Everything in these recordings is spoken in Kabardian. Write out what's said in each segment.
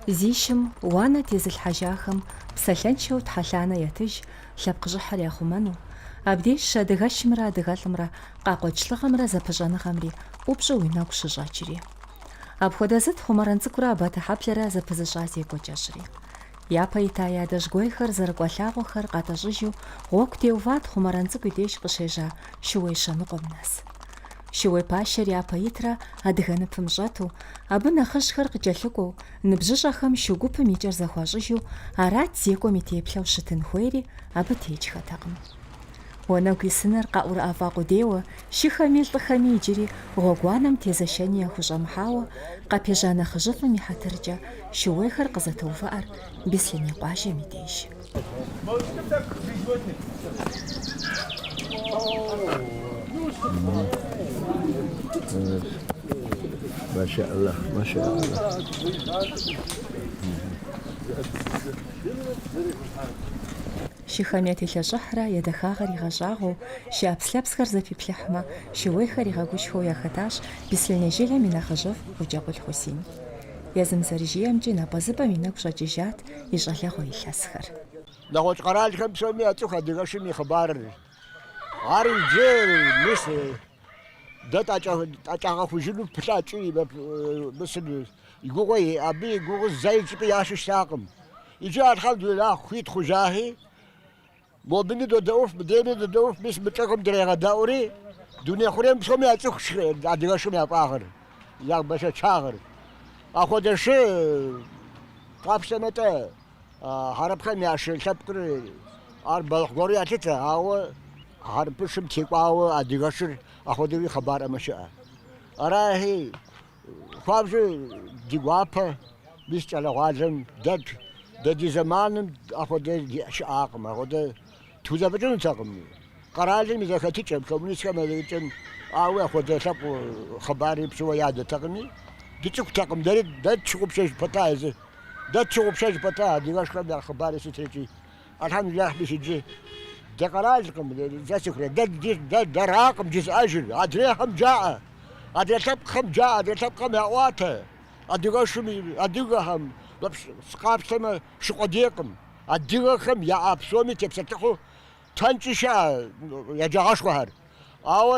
Зи шым уанэ тезылъхьэжахэм псалъэншэу тхьэлъанэ ятыж лъэпкъ щӏыхьыр яхъумэну, абдежщ адыгэшымрэ адыгэлӏымрэ къакъуэкӏ лӏыгъэмрэ зэпыщӏэныгъэмри ӏупщӏу уи нэгу щыщӏэкӏри. Апхуэдэ зыт Хъумэрэн цӏыкӏурэ Абатыхьэблэрэ зэпызыщӏа зекӏуэ кӏэщӏри. Япэ ита я адэжьгуейхэр зэрыкӏуа лъагъуэхэр къатӏэщӏыжу гъуэгу теуват Хъумэрэн цӏыкӏу и деж къыщежьа шууей щэныкъуэм нэс. Шууей пащэр япэ итрэ адыгэ ныпым щӏэту, абы нэхъыжьхэр къыкӏэлъыкӏуэу, ныбжьыщӏэхэм шу гупым и кӏэр зэхуащӏыжу арат зекӏуэм и теплъэу щытын хуейри, абы текӏхэтэкъым. Уанэгу исыныр къаӏурыӏэфӏа къудейуэ, шыхэми лӏыхэми иджыри гъуэгуанэм тезэшэни яхущӏэмыхьауэ, къапежьа нэхъыжьыфӏым и хьэтыркӏэ шууейхэр къызэтоувыӏэр Беслъэней къуажэм и деж. Шыхэм ятелъэщӏыхьрэ я дахагъэр игъэщӏагъуэу, шы ӏэпслъэпсхэр зэпиплъыхьмэ, шууейхэр игъэгушхуэу яхэтащ Беслъэней жылэм и нэхъыжьыфӏ Къуджэкъул Хьусин. Езым зэрыжиӏэмкӏи, напӏэзыпӏэм и нэгу щӏэкӏыжат и щӏалэгъуэ илъэсхэр. Нэгъуэщӏ къэралхэм псоми яцӏыху адыгэшым и хъыбарыр. Ар иджы, мис, дэ тӏэкӏагъэхужыну пылъа икӏи, мис. И гугъуи, абы и гугъу зэи щӏыпӏи ящӏу щытакъым. Иджы Алхьэмдулилахь, хуит хъужахи, мобыни додэӏуф, мыдейми додэӏуф, мис мы лӏыгъэм дрегъэдэӏури, дуней хъурейм псоми яцӏыху шы, адыгэшым я фӏагъыр, я бэшэчагъыр. Апхуэдэ шы къапщтэмэ-тӏэ, хьэрыпхэм я шы лъэпкъыр, ар бэлыхь гуэру ялъытэ, ауэ хьэрыпышым текӏуауэ адыгэшыр апхуэдэуи хъыбар ӏэмэ щыӏэ. Арахи, Хуабжьу ди гуапэ мис кӏэлэгъуалэм. Дэ, дэ ди зэманым апхуэдэ щыӏакъым, апхуэдэ тхузэфӏыкӏынутэкъым. Къэралым и зэхэтыкӏэм, коммунистхэм я зэхэтыкӏэм, ауэ апхуэдэ лъэпкъ хъыбари пщӏыуэ ядэтэкъыми, дыцӏыхутэкъым. Дэри дэ тщыгъупщэж пэта езыр, дэ тщыгъупщэж пэта адыгэшхэм я хъыбари сытри икӏи. Алхьэмдуллахь, мис иджы дэ къэралкъым, зыцӏыхур, дэ дэ дэракъым жызыӏэжыр. Адрейхэм жаӏэ, адрей лъэпкъхэм жаӏэ, адрей лъэпкъхэм яӏуатэ. Адыгэшым и адыгэхэм къапщтэмэ шы къудейкъым. Адыгэхэм яӏэ псоми тепсэлъыхьу дэнкӏи щыӏэ еджагъэшхуэхэр. Ауэ.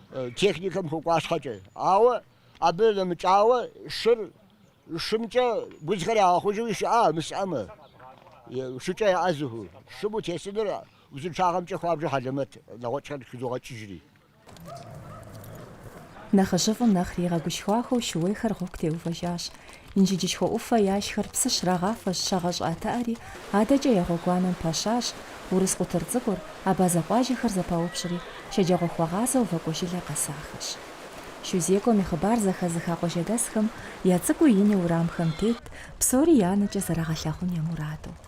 Техникэм хуэкӏуа щхьэкӏэ. Ауэ абы нэмыкӏауэ шыр шымкӏэ гу узхэр ягъэхъужуи щыӏа мы щӏыӏэмэ? Шыкӏэ яӏэзыху, шым утесыныр узыншагъэмкӏэ хуабжьу хьэлэмэт нэгъуэщӏхэр хызогъэкӏыжри. Нэхъыжьыфӏым нэхъри игъэгушхуахэу шууейхэр гъуэгу теувэжащ. Инжыджышхуэ ӏуфэ яшхэр псы щрагъафэщ щагъэщӏыӏэтыӏэри, адэкӏэ я гъуэгуанэм пэщащ урыс къутыр цӏыкӏур, абазэ къуажэхэр зэпаупщӏри, шэджагъуэхуэгъазэу Вакӏуэжылэ къэсахэщ. Шу зекӏуэм и хъыбар зэхэзыха къуажэдэсхэм я цӏыкӏуи ини уэрамхэм тетт, псори я нэкӏэ зэрагъэлъагъун я мураду.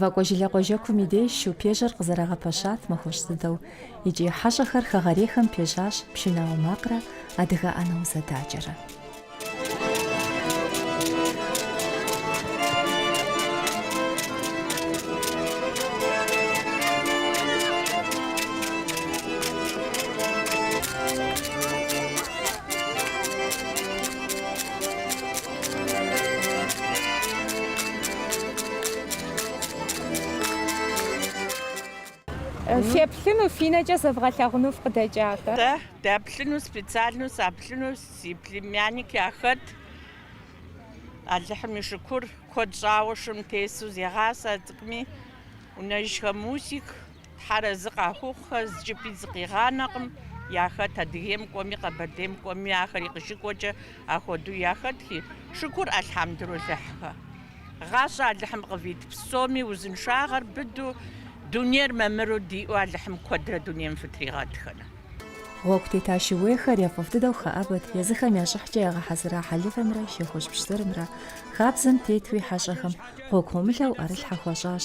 Вакӏуэжылэ къуажэкум и деж шупежьэр къызэрагъэпэщат махуэщӏ дыдэу икӏи хьэщӏэхэр хэгъэрейхэм пежьащ пшынауэ макърэ адыгэ ӏэнэ узэдакӏэрэ. Феплъыну, фи нэкӏэ зэвгъэлъагъуну фыкъыдэкӏа-тӏэ? Дэплъыну, специальнэу саплъыну си племянник яхэт. Алыхьым и шыкур, куэд щӏауэ шым тесу зегъасэ а цӏыкӏуми. Унэжхэ Мусик, Тхьэр арэзы къахухъухэ зыщӏыпӏи зыкъигъанэкъым, яхэт Адыгейм кӏуэми, Къэбэрдейм кӏуэми, ахэри къыщыкӏуэкӏэ ахуэдэу яхэтхи, шыкур Алхьэмдулилахь. Гъащӏэ Алыхьым къывит псоми узыншагъэр быду, дунейр мамыру диӏэу Алыхьым куэдрэ дунейм фытригъэтхэну. Гъуэгу тета шууейхэр яфӏэфӏ дыдэу хэӏэбэт, езыхэм я щӏыхькӏэ ягъэхьэзыра хьэлывэмрэ шей хужь пщтырымрэ хабзэм тетуи хьэщӏэхэм гъуэгу гъуэмылэу ӏэрылъхьэ хуащӏащ,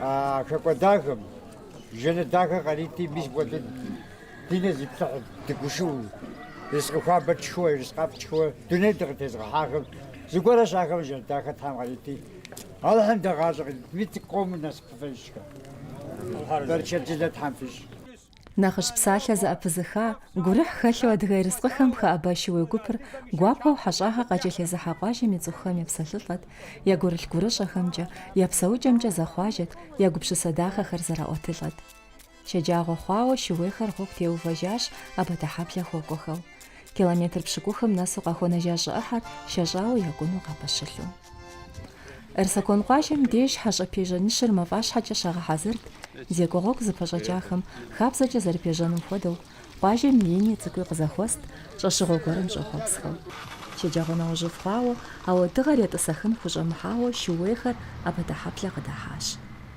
А хэкӏуэдахэм жэнэт дахэ къарити, мис апхуэдэу ди нэ зиплъыхьу дыгушыӏэу, ерыскъы хуабэ тшхыуэ, ерыскъы ӏэфӏ тшхыуэ дунейр дыкъытезгъэхьахэм зыгуэращ ахэр жэнэт дахэ Тхьэм къарити, Алыхьым дэ гъащӏэ къыдитми, цӏыкӏу къомыр насыпыфӏэжкъэ. Бэрчэдылэ Тхьэм фищӏ. Нэхъыжь псалъэ зэӏэпызыха, гурыхь хэлъу Адыгэ ерыскъыхэм хэӏэба шууей гупыр гуапэу Хьэщӏагъэ къакӏэлъызезыхьа къуажэм и цӏыхухэм епсэлъылӏэт, я гурылъ гурыщӏэхэмкӏэ, я псэукӏэмкӏэ зэхъуажэт, я гупсысэ дахэхэр зэраӏуэтылӏэт. Шэджагъуэ хъуауэ шууейхэр гъуэгу теувэжащ Абатэхьэблэ хуэкӏуэхэу. Километр пщыкӏухым нэсу къахуэнэжа щӏы ӏыхьэр шэщӏауэ якӏуну къапэщылъу. Эрсакон къуажэм деж хьэщӏэ пежьэ нышыр мафӏащхьэкӏэ щагъэхьэзырт, зекӏуэ гъуэгу зыпэщӏэкӏахэм хабзэкӏэ зэрыпежьэным хуэдэу, къуажэм и ини цӏыкӏуи къызэхуэст, щӏэщыгъуэ гуэрым щӏэхъуэпсхэу. Шэджагъуэ нэужьыфӏ хъуауэ, ауэ дыгъэр етӏысэхын хущӏэмыхьауэ шууейхэр Абатэхьэблэ къыдыхьащ.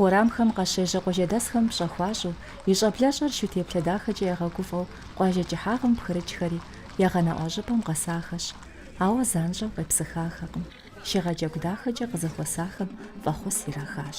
Уэрамхэм къащежьэ къуажэдэсхэм пщӏэ хуащӏу, и щӏэблэщӏэр шу теплъэ дахэкӏэ ягъэгуфӏэу къуажэ кӏыхьагъым пхырыкӏхэри я гъэнэӏуа щӏыпӏэм къэсахэщ. Ауэ занщӏэу къепсыхахэкъым, шыгъэджэгу дахэкӏэ къызэхуэсахэм фӏэхъус ирахащ.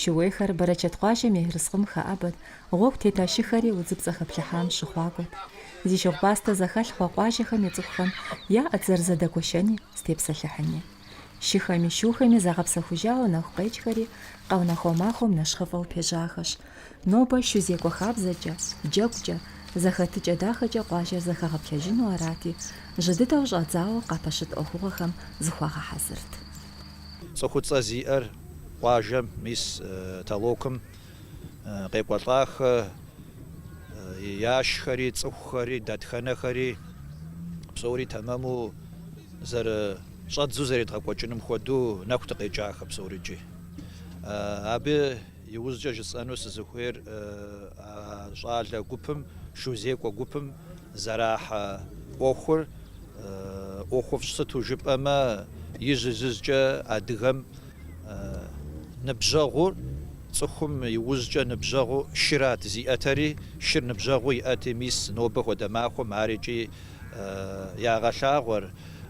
Шууейхэр бэрэчэт къуажэм и ерыскъым хэӏэбэт, гъуэгу тета шыхэри удзыпцӏэ хэплъыхьам щыхъуакӏуэт. Зи шыгъупӏастэ зэхэлъ хъуа къуажэхэм я цӏыхухэм яӏэт зэрызэдэгуэшэни, зытепсэлъыхьыни. Шыхэми, шухэми загъэпсэхужауэ нэху къекӏхэри къэунэхуа махуэм нэщхъыфӏэу пежьахэщ. Нобэ шу зекӏуэ хабзэкӏэ, джэгукӏэ, зэхэтыкӏэ дахэкӏэ къуажэр зэхэгъэплъэжыну арати, жьы дыдэу щӏадзауэ къапэщыт ӏуэхугъуэхэм зыхуагъэхьэзырт. Цӏыхуцӏэ зиӏэр къуажэм, мис толокым къекӏуэлӏахэ яшхэри, цӏыхухэри, дэтхэнэхэри, псори тэмэму зэрыщӏэдзу зэредгъэкӏуэкӏыным хуэдэу нэху дыкъекӏахэ псорыкӏи. Абы иужькӏэ жысӏэну сызыхуейр щӏалэ гупым, шузекӏуэ гупым зэрахьэ ӏуэхур, ӏуэхуфӏщ, сыту жыпӏэмэ ижь-ижьыжькӏэ адыгэм ныбжьэгъур, цӏыхум иужькӏэ ныбжьэгъу шырат зиӏэтэри, шыр ныбжьэгъуу иӏэти, мис нобэ хуэдэ махуэм ар икӏи ягъэлъагъуэр.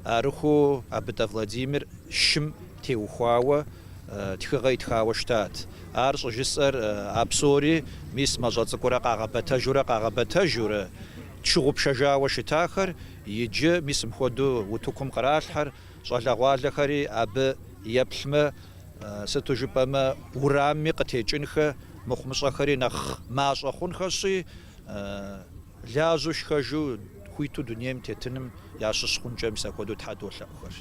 Арыххэу Абытӏэ Владимир шым теухуауэ тхыгъэ итхауэ щытат. Ар щӏыжысӏэр а псори, мис мащӏэ цӏыкӏурэ къагъэбэтэжурэ къагъэбэтэжурэ Тщыгъупшэжауэ щытахэр иджы мис мыпхуэдэу утыкум къралъхьэр, щӏалэгъуалэхэри абы еплъмэ, сыту жыпӏэмэ, урамми къытекӏынхэ мыхъумыщӏэхэри нэхъ мащӏэ хъунхэщи, лажьэу шхэжу хуиту дунейм тетыным ящыщ хъункӏэ мис апхуэдэу Тхьэ долъэӏухэр.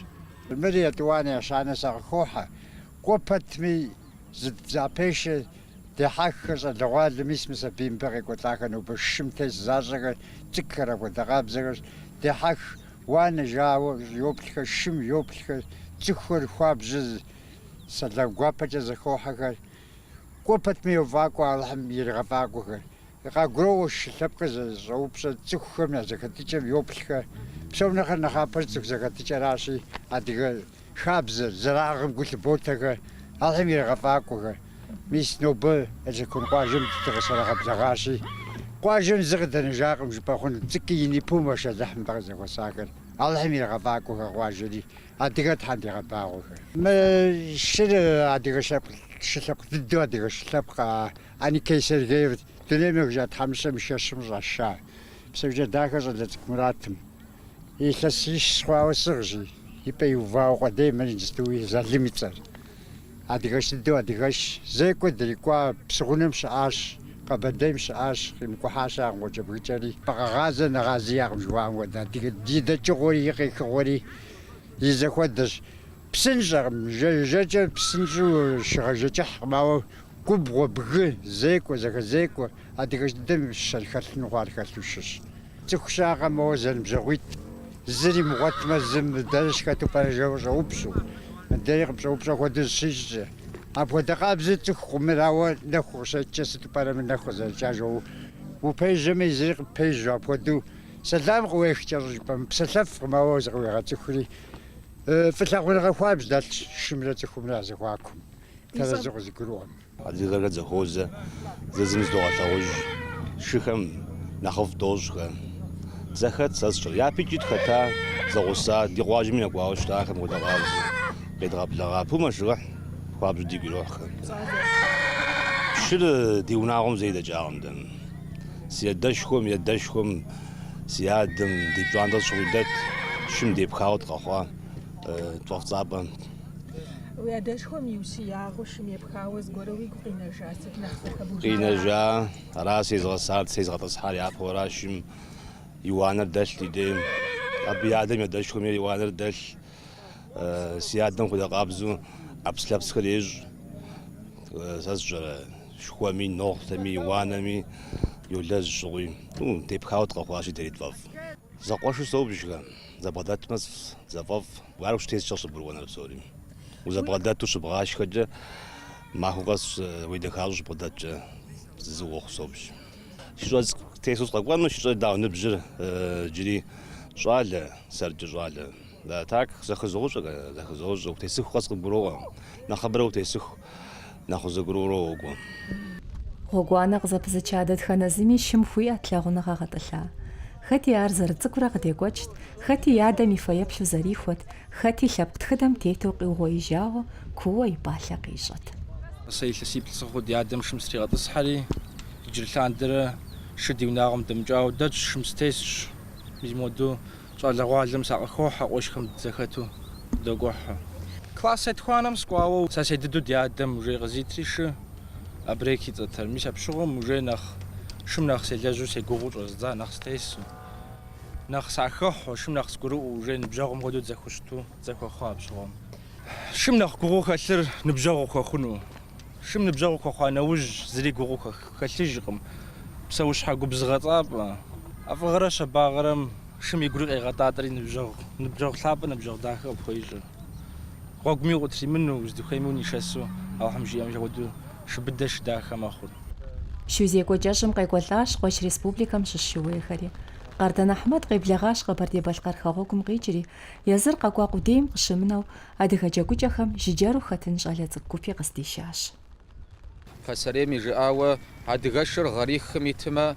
Мыр етӏуанэ ещанэ сакъыхохьэ. Кӏуэ пэтми, Зыӏэпешэ, дехьэххэр щӏалэгъуалэ, мис мы сабий мыбы къекӏуэлӏахэр нобэ шым тес защӏэхэр, цӏыкӏухэр, ахуэдэкъабзэхэр. Дехьэх уанэ жауэ йоплъхэр, шым йоплъхэр, цӏыхухэр хуабжьу сэлам гуапэкӏэ зэхохьэхэр. Кӏуэ пэтми йофӏакӏуэ Алыхьым иригъэфӏакӏуэхэр. Къагуроӏуэ шы лъэпкъыр зэщӏэупщӏэ цӏыхухэм я зэхэтыкӏэм йоплъхэр. Псом нэхъыр нэхъапэр цӏыху зэхэтыкӏэращи, адыгэ Хабзэр, зэрагъым гу лъыботэхэр, Алыхьым иригъэфӏакӏуэхэр. Мис нобэ Эрсакон къуажэм дыкъыщрагъэблэгъащи, къуажэм зы къыдэнэжакъым жыпӏэ хъунут, цӏыкӏуи ини, пу мэшэлыхь, нобэ къызэхуэсахэр, Алыхьым иригъэфӏакӏуэхэр къуажэри, адыгэ Тхьэм дигъэбагъуэхэр. Мы шыр адыгэ лъэпкъ, шы лъэпкъ дыдэу, адыгэ шы лъэпкъ Аникей Сергеев, дунейм ехыжа тхьэмыщкӏэм и шэщым щӏаша. Псэукӏэ-Дахэ щӏалэ цӏыкӏу Муратым. Илъэсищ схъуауэ сыгъщи, ипӏэ иувауэ къудей мыр индстуи Залым и цӏэр. Адыгэш дыдэу адыгэш. Зекӏуэ дрикӏуа псыгъунэм щыӏащ, Къэбэрдейм щыӏащ, къимыкӏухьа щыӏэкъым къуэкӏэбгыкӏэри. Къэгъазэ нэгъази иӏэкъым жыхуаӏэм хуэдэ. Адыгэ и дэкӏыгъуэри, и къехыгъуэри и зэхуэдэщ. Псынщӏэкъым, жэ, жэкӏэ псынщӏу щыгъэжэкӏыхькъым, ауэ Губгъуэ, бгы, зекӏуэ, зэхэзекӏуэ, адыгэш дыдэм и щэн хэлъыну хъуар хэлъу шыщ. Цӏыху щыӏэкъэ моуэ зэныбжьэгъуитӏ, зыр имыгъуэтмэ, зым мыр дэнэ щыхэту пӏэрэ жэуэ щӏэупщӏу, мыдэри къыпщӏэупщӏэ хуэдэу зыщищӏкӏэ. Апхуэдэ къабзэу цӏыху къумырауэ нэху къыщэкӏкӏэ сыту пӏэрэ мы нэху къызэрыкӏар жэуэ упежьэмэ, езыри къыппежьу, апхуэдэу сэлам къыуех кӏэщӏу жыпӏэ, мыпсэлъэфкъым, ауэ зыкъыуигъэцӏыхури фӏылъагъуныгъэ хуабжь дэлъщ шымрэ цӏыхумрэ я зэхуакум. Тэрэзу къызыгурыӏуэм. Адыгэхэр дызэхуозэ, зэзым зыдогъэлъэгъуж, шыхэм нэхъыфӏ дощӏхэ. Дызэхэт сэ сщӏыр. Япэкӏи тхэта, зэгъуса, ди къуажэми нэкӏуауэ щытахэм хуэдэ къабзэу, къедгъэблэгъа. Пу мэшэлыхь хуабжьу дигу ирохьхэ. Шыр ди унагъуэм зэи дэкӏакъым дэ. Си адэшхуэм, и адэшхуэм, си адэм, ди пщӏантӏэ сыт щыгъуи дэт, шым депхауэ дыкъэхъуа тфӏэфӏ цӏапӏэ. Уи адэшхуэм и ущиягъэу шым епхауэ зыгуэру уигу къинэжа сыт нэхъ зэхэбужар? Къинэжа, ара сезгъэсар, сезгъэтӏысхьар япэуэра шым и уанэр дэлъ ди дейм. Абы и адэм и адэшхуэми и уанэр дэлъ. Э, Си адэм хуэдэ къабзу ӏэпс-лъэпсхэр ещӏ. Э, Сэ сщӏэрэ, шхуэми, нохъутэми, и уанэми йолэжь щӏыгъуи. Ну, депхауэ дыкъэхъуащи, дэри тфӏэфӏ. Зэкъуэшу собжхэ, зэбгъэдэтмэ, зэфӏэфӏ. Ар ущытескӏэ щыбгурыӏуэныр псори. Узэбгъэдэту щыбгъашхэкӏэ, махуэ къэс уедэхащӏэу щыбгъэдэткӏэ зы уохъу собж. Шыщӏэ стесу сыкъэкӏуэну, шыщӏэ дауэ ныбжьыр иджыри щӏалэ, сэркӏэ щӏалэ. А так, зэхызощӏэ-гэ, зэхызощӏэ, утесыху къэс къыбгуроӏуэ. Нэхъыбэрэ утесыху, нэхъ узэгурыӏуэурэ уокӏуэ. Гъуэгуанэ къызэпызыча дэтхэнэ зыми шым хуиӏэт лъагъуныгъэ гъэтӏылъа. Хэти ар зэрыцӏыкӏурэ къыдекӏуэкӏт, хэти и адэм и фэеплъу зэрихуэт, хэти лъэпкъ тхыдэм тету къиугъуеижауэ куууэ и пӏалъэ къищӏэт. Сэ илъэсиплӏ сыхъуу ди адэм шым стригъэтӏысхьэри, иджыри лъандэрэ шы ди унагъуэм дэмыкӏауэ дэтщ, шым сытесщ. Мис моду Щӏалэгъуалэм сакъыхохьэ къуэшхэм дызэхэту догухьэ. Класс етхуанэм сыкӏуауэ сэ седыду ди адэм уже къызитри шы Абрек и цӏэтэр. Мис апщыгъуэм уже нэхъ шым нэхъ селэжьу сегугъуу щӏэздза нэхъ стесу. Нэхъ сахэхьу, шым нэхъ сгурыӏуэу уже ныбжьэгъум хуэдэу дызэхущыту дызэхуэхъуа апщыгъуэм. Шым нэхъ гугъуу хэлъыр ныбжьэгъу ухуэхъуну. Шым ныбжьэгъу ухуэхъуа нэужь, зыри гугъу хэлъыжкъым. Псэущхьэ губзыгъэцӏапӏэ. ӏэфӏыгъэрэ щабагъэрэм шым и гури къегъэтӏатӏэри ныбжьэгъу, ныбжьэгъу лъапӏэ, ныбжьэгъу дахэ къыпхуеищӏыр. Гъуэгуми укъытримыну, узыдыхуейми унишэсу, Алыхьым жиӏэм хуэду шы быдэ, шы дахэ мэхъур. Шу зекӏуэ кӏэщӏым къекӏуэлӏащ къуэш республикэм щыщ шууейхэри. Къардэн Ахьмэд къеблэгъащ Къэбэрдей-Балъкъэр хэгъуэгум къикӏри, езыр къэкӏуа къудейм къыщымынэу, Адыгэ джэгукӏэхэм жыджэру хэтын щӏалэ цӏыкӏу гупи къыздишащ. Пасэрейм и жыӏауэ, адыгэшыр гъэрихым итымэ,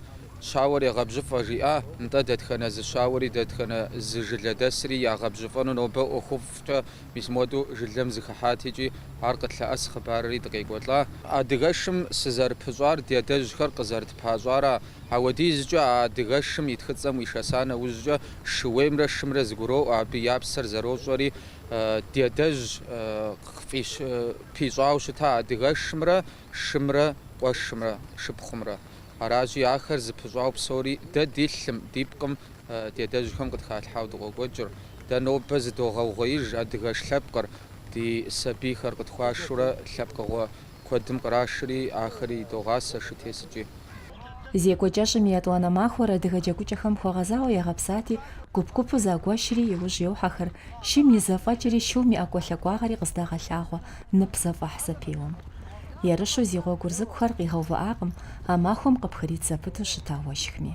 щауэр егъэбжьыфӏэ жиӏа, нтӏэ, дэтхэнэ зы щауэри дэтхэнэ зы жылэдэсри ягъэбжьыфӏэну нобэ ӏуэхуфӏкӏэ мис модэу жылэм зыхыхьат икӏи ар къытлъэӏэс хъыбарри дыкъекӏуэлӏа? Адыгэшым сызэрыпыщӏар ди адэжьхэр къызэрытпащӏара? Ауэдизкӏэ а адыгэшым и тхыцӏэм уишэса нэужькӏэ, Шууеймрэ шымрэ зыгуроӏуэ, абы я псэр зэрощӏэри ди адэжь пищӏауэ щыта адыгэшымрэ шымрэ къуэшымрэ шыпхъумрэ. Аращи, ахэр зыпыщӏауэ псори дэ ди лъым, ди пкъым ди адэжьхэм къытхалъхьауэ дыкъокӏуэкӏыр. Дэ нобэ зыдогъэугъуеиж адыгэш лъэпкъыр, ди сабийхэр къытхуашурэ лъэпкъыгъуэ Куэдым кърашри, ахэри идогъасэ шы тесыкӏи. Зекӏуэ кӏэщӏым и етӏуанэ махуэр адыгэ джэгукӏэхэм хуэгъэзауэ ягъэпсати, гуп-гупу загуэшри, иужь йохьэхэр, шым и зэфӏэкӏри, шум и ӏэкӏуэлъакӏуагъэри къыздагъэлъагъуэ нып зэфӏэхь зэпеуэм. Ерыщу зи гъуэгур зыкӏухэр къигъэувыӏакъым а махуэм къыпхрит зэпыту щыта уэшхми.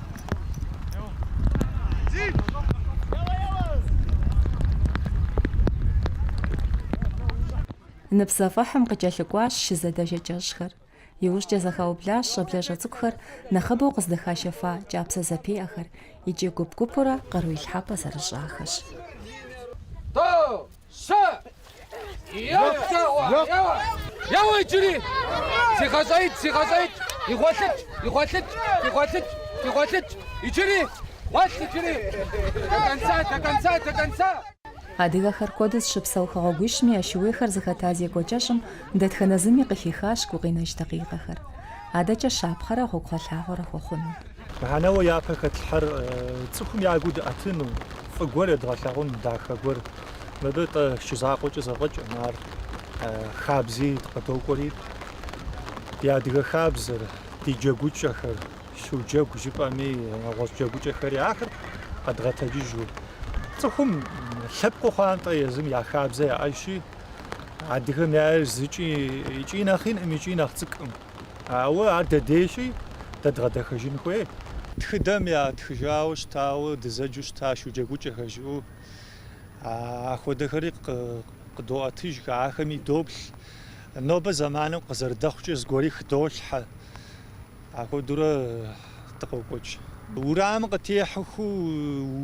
Нып зэфӏэхьым къыкӏэлъыкӏуащ шы зэдэжэ кӏэщӏхэр. Иужькӏэ зэхаублащ щӏэблэщӏэ цӏыкӏухэр нэхъыбэу къыздыхашэфа кӏапсэ зэпеӏэхэр икӏи гуп-гупурэ къару илъхьэпӏэ зэрыщӏахэщ. Сэ! Еуэ иджыри! Зегъэщӏеикӏ, зегъэщӏеикӏ! Игъуэлъыкӏ, игъуэлъыкӏ, игъуэлъыкӏ, игъуэлъыкӏ! Иджыри! Гъуэлъ иджыри! До конца, до конца, до конца! Адыгэхэр куэду зыщыпсэу хэгъуэгуищми я шууейхэр зыхэта зекӏуэ кӏэщӏым дэтхэнэ зыми къыхихащ гукъинэж дакъикъэхэр. Адэкӏэ щапхъэрэ гъуэгугъэлъагъуэрэ хуэхъуну. Мыхьэнэуэ япэ хэтлъхьэр цӏыхум я гур дыӏэтыну, фӏы гуэр едгъэлъагъун, дахэ гуэр. Мыбы тӏэ шчы закъуэкӏэ зэфӏэкӏым, ар хабзи къыдокӏуэри, ди адыгэ хабзэр, ди джэгукӏэхэр, шуджэгу жыпӏэми, нэгъуэщӏ джэгукӏэхэри, ахэр къэдгъэтэджыжу. Цӏыхум лъэпкъыу хъуантӏэ езым я хабзэ яӏэжщи, адыгэм яӏэр зыкӏи икӏи нэхъ инкъым, икӏи нэхъ цӏыкӏым. Ауэ ар дэ дейщи дэ дгъэдэхэжын хуей. Тхыдэм ятхыжауэ щытауэ дызэджу щыта шуджэгукӏэхэр жыӏэу, ахуэдэхэри къыдоӏэтыж, ахэми доплъ. Нобэ зэманым къызэрыдэхъукӏэ зыгуэри хыдолъхьэ. Ахуэдурэ дыкъокӏуэкӏ. Урамым къытехьыху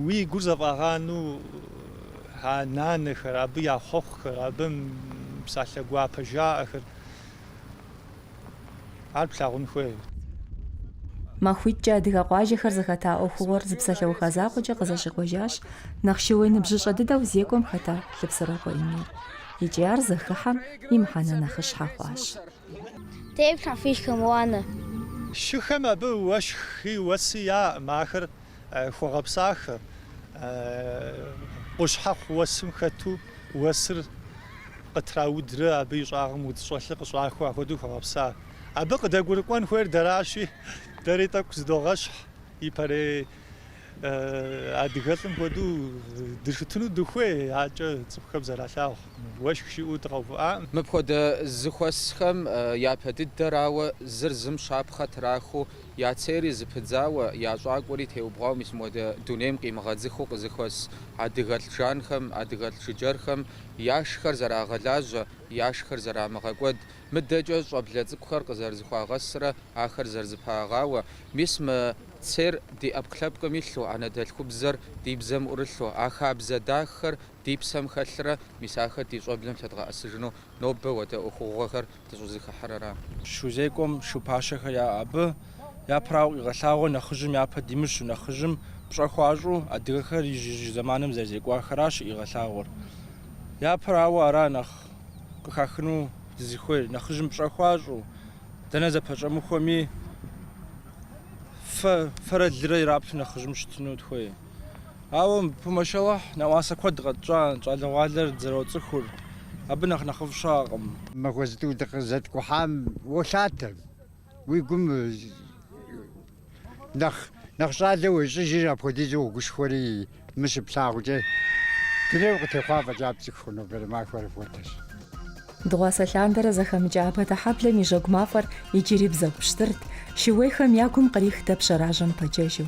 уи гур зэфӏагъану а нанэхэр, абы я хъуэхъухэр, абы псалъэ гуапэ жаӏэхэр. Ар плъагъун хуей. Махуитӏкӏэ адыгэ къуажэхэр зэхэта ӏуэхугъуэр зы псалъэуха закъуэкӏэ къызэщӏикъуэжащ нэхъ шууей ныбжьыщӏэ дыдэу зекӏуэм хэта Лъыпсэрокъуэ Эмир. Икӏи ар зэхыхьэм и мыхьэнэ нэхъыщхьэ хъуащ. Тефлъхьэ фишхэм уанэ. Шыхэм абы уэшхи уэси яӏэкъым, ахэр Хуэгъэпсахэ, къущхьэхъу уэсым хэту уэсыр къытраудрэ абы и щӏагъым удз щӏэлъыр къыщӏахуэ, ахуэдэу хуэгъэпса. Абы къыдэгурыкӏуэн хуейр дэращи, дэри тӏэкӏу зыдогъэщхь, ипэрей адыгэлӏым хуэдэу дыщытыну дыхуей, акӏэ цӏыхухэм зэралъагъу, уэшх щыӏэу дыкъэувыӏам. Мыпхуэдэ зыхуэсхэм япэ дыдэрауэ, зыр зым щапхъэ трахыу Я цейри зыпыдзауэ, я щӏакӏуэри теубгъуауэ мис модэ дунейм къимыгъэдзыхыу къызыхуэс адыгэлӏ жанхэм, адыгэлӏ жыджэрхэм яшхэр зэрагъэлажьэ, яшхэр зэрамыгъэкӏуэд, мыдэкӏэ щӏэблэ цӏыкӏухэр къызэрызыхуагъэсрэ ахэр зэрызыпагъауэ, мис мы цейр ди ӏэпкълъэпкъым илъу, анэдэлъхубзэр ди бзэм ӏурылъу, а хабзэ дахэр ди псэм хэлърэ мис ахэр ди щӏэблэм лъэдгъэӏэсыжыну нобэ уэдэ ӏуэхугъуэхэр дыщӏызыхыхьэр ара. Шузекӏуэм шу пащэхэр яӏэ абы. Япэрауэ къигъэлъагъуэр нэхъыжьым япэ димыщу, нэхъыжьым пщӏэ хуащӏу адыгэхэр ижь-ижь зэманым зэрызекӏуахэращ къигъэлъагъуэр. Япэрауэ ара нэхъ къыхахыну дызыхуейр, нэхъыжьым пщӏэ хуащӏу, дэнэ зэпэщӏэмыхуэми фэ, фэрэ лырэ ираплъу нэхъыжьым щытыну дыхуей. Ауэ пу машаллахь нэӏуасэ куэд къэтщӏа, щӏалэгъуалэр зэроцӏыхур абы нэхъ нэхъыфӏ щыӏэкъым. Махуэ зытӏу дыкъызэткӏухьам уолъатэ, уи гум нэхъ нэхъ щӏалэ уещӏыжыр апхуэдизу уогушхуэри, мы щыплъагъукӏэ дунейм къытехъуа фӏэкӏа пцӏыху хъу нобэрей махуэр апхуэдэщ. Дыгъуасэ лъандэрэ зэхэмыкӏа Абатыхьэблэм и жьэгу мафӏэр иджыри бзэгу пщтырт, шууейхэм я гум кърих дэп жьэражьэм пэджэжу.